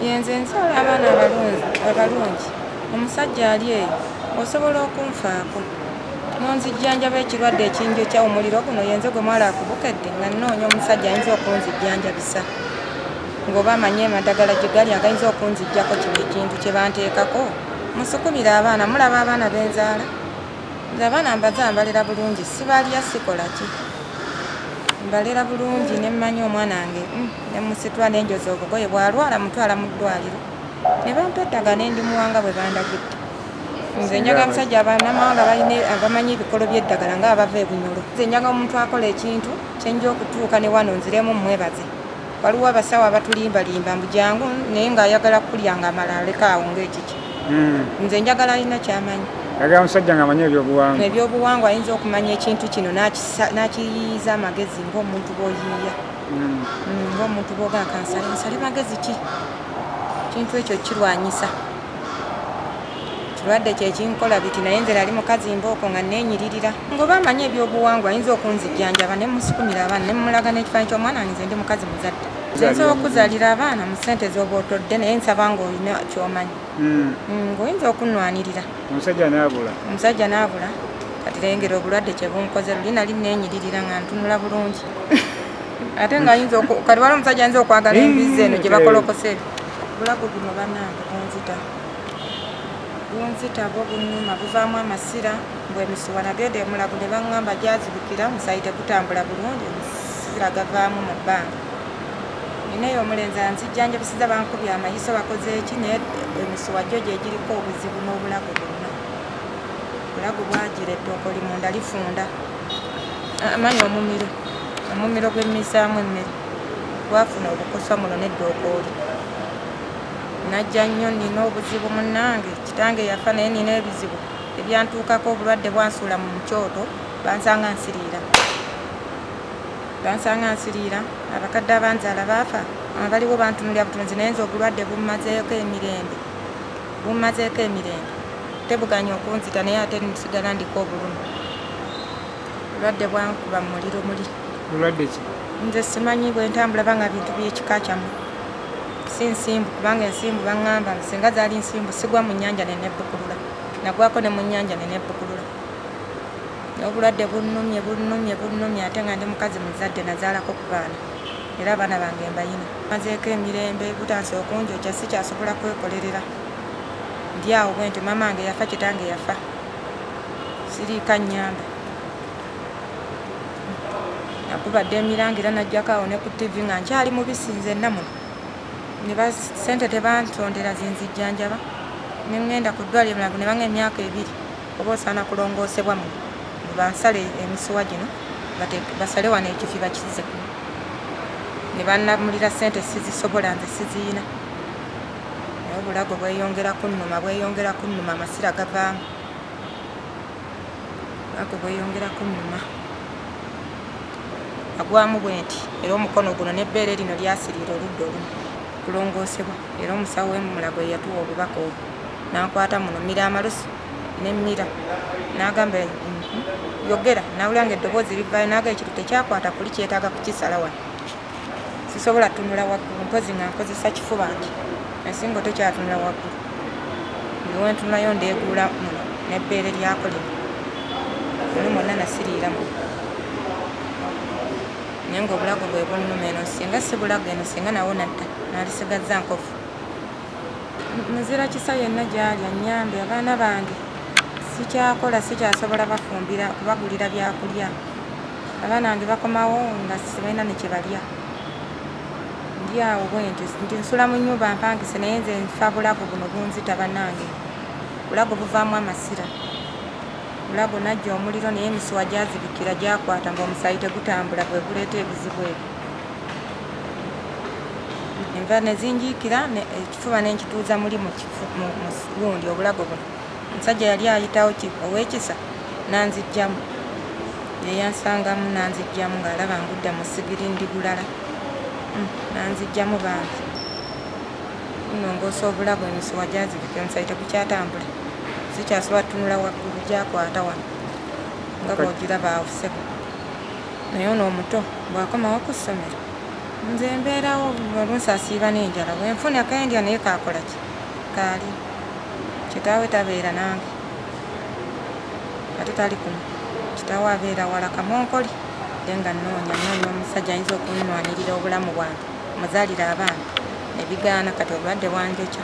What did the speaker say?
Yenze nzaala abaana abalungi omusajja ali eyo osobola okunfaako n'onzijjanjaba ekirwadde ekinjokya omuliro guno yenze gwe mwala akubukedde nga nnoonya omusajja ayinza okunzijjanjabisa ng'oba amanyi amadagala gye gali agayinza okunzijjako kino ekintu kye banteekako musukumire abaana mulaba abaana be nzaala Nze abaana mbaza mbalera bulungi sibalya sikola ki mbalera bulungi ne mmanya omwana wange mm, ne musitula ne njoza obugoye bw'alwala mutwala mu ddwaliro ne bampa eddagala ne ndimuwanga bwe bandagidde nze njaga abasajja abanamawanga balina abamanyi ebikolo by'eddagala nga abava ebunyolo nze njaga omuntu akola ekintu kyenja okutuuka ne wano nziremu mmwebaze Waliwo abasawo abatulimbalimba mbu jangu naye ng'ayagala kukulya ng'amala aleka awo ng'ekiki. Nze njagala alina kyamanyi. Ayagala musajja ng'amanyi ebyobuwangwa. Ebyobuwangwa ayinza okumanya ekintu kino n'akisa- n'akiyiiyiza amagezi ng'omuntu bw'oyiiya. Mm, Ng'omuntu bw'ogaa kansale nsale magezi ki? Ekintu ekyo kirwanyisa. kirwadde kye kinkola biti naye nze nali mukazi mbooko nga neenyiririra ngoba amanyi ebyobuwangwa ayinza okunzijjanjaba ne musukumira abaana ne mumulaga n'ekifanyi ky'omwana wange nze ndi mukazi muzadde nze nsobola okuzalira abaana mu ssente z'obaotodde naye nsaba ng'olina kyomanyi hmm. hmm, ng'oyinza okunnwanirira omusajja naabula omusajja naabula kati lengera obulwadde kye bunkoze luli nali neenyiririra nga ntunula bulungi ate ngaayinza kati wali omusajja ayinza okwagala embizi eno gye bakolokosa ebyo Obulago buno banange bunzita bunzita bwo bunuma buvaamu amasira mbu emisuwa nagenda emulago ne bangamba gyazibukira omusaayi tegutambula bulungi omusira gavaamu mu bbanga nina eyo omulenzi anzijjanjabisiza bankubye amayiso bakoze eki naye emisuwa gyo gyegiriko obuzibu n'obulago bwonna obulago bwagira ettooka oli munda lifunda amanyi omumiro omumiro gwemmisaamu emmere gwafuna obukosa muno ne dookooli najja nnyo nina obuzibu munnange kitange yafa naye nina ebizibu ebyantuukako obulwadde bwansuula mu kyoto bansanga nsiriira bansanga nsiriira abakadde abanzaala baafa abaliwo bantunulira butunzi naye nze obulwadde bummazeeko emirembe bummazeeko emirembe tebuganya okunzita naye ate nsigala ndiko obulumi obulwadde bwankuba mu muliro muli bulwadde ki? Nze simanyi bwentambula banga bintu byekika kyamu si nsimbu kubanga ensimbu bangamba singa zali nsimbu sigwa mu nyanja nenebukulula nagwako ne mu nyanja nenebukulula obulwadde bunumye bunumye bunumye ate nga ndi mukazi muzadde nazalako ku baana era abaana bange mbayina mazeeko emirembe butansi okunjokya sikyasobola kwekolerera ndi awo bwenti mama nge yafa kitange yafa siriika nyamba nakubadde emiranga era najjako awo ne ku ttivi nga nkyali mubisi nzenna muno ne basente tebantondera zinzijjanjaba ne ŋŋenda ku ddwaliro mulago ne banga emyaka ebiri oba osaana kulongoosebwa muno bansale emisuwa gino basale wano ekifi bakize kuno ne bannamulira sente sizisobola nze siziyina naye obulago bweyongera kunnuma bweyongera kunnuma amasira gavaamu Obulago bweyongera kunnuma. Nagwamu bwenti era omukono guno n'ebbeere lino lyasiriira oludda olumu. Kulongoosebwa era omusawo w'e Mulago ye yatuwa obubaka obwo n'ankwata muno mmira amalusu ne mmira n'agamba nti, Yogera. Nawulira ng'eddoboozi livaayo n'agamba nti, Ekitutte kyakwata kuli kyetaaga kukisala wano. Sisobola tunula waggulu mpozzi nga nkozesa kifuba nti ensingo tekyatunula waggulu. Buli we ntunulayo ndeeguula muno n'ebbeere lyako lino. Muno mwonna nasiriira muno. Naye ng'obulago bwe bunnuma eno singa si bulago eno singa nawo nadda nalisigazza nkovu. Muzira kisa yenna gy'ali annyambe abaana bange sikyakola sikyasobola bafumbira kubagulira byakulya. Abaana bange bakomawo nga sibalina nekyebalya ndi awo bwentyo nti nsula mu nyumba mpangise naye nze nfa bulago buno bunzita banange bulago buvaamu amasira bulago najja omuliro naye emisuwa gyazibikira gyakwata nga omusaayi tegutambula gwe guleeta ebizibu ebyo enva nezinjiikira ekifuba nenkituuza muli mugundi obulago buno Omusajja yali ayitawo ki ow'ekisa n'anziggyamu. Ye yansangamu n'anziggyamu ng'alaba ngudde mu ssigiri ndi bulala. Mm, n'anziggyamu bambi. Nnongoosa obulago emisuwa gyazibika omusaayi tegukyatambula. Sikyasobola tunula waggulu gyakwata wano nga bw'ogiraba awo ssebo. Naye ono omuto bw'akomawo ku ssomero nze mbeerawo oluusi asiiba n'enjala wenfuna kendya naye kaakola ki kaali Kitaawe tabeera nange nga tutali kumu. Kitaawe abeera wala kamonkoli nze nga nnoonya nnoonya omusajja ayinza okunnwanirira obulamu bwange mmuzaalire abaana ne bigaana kati obulwadde bwanjokya.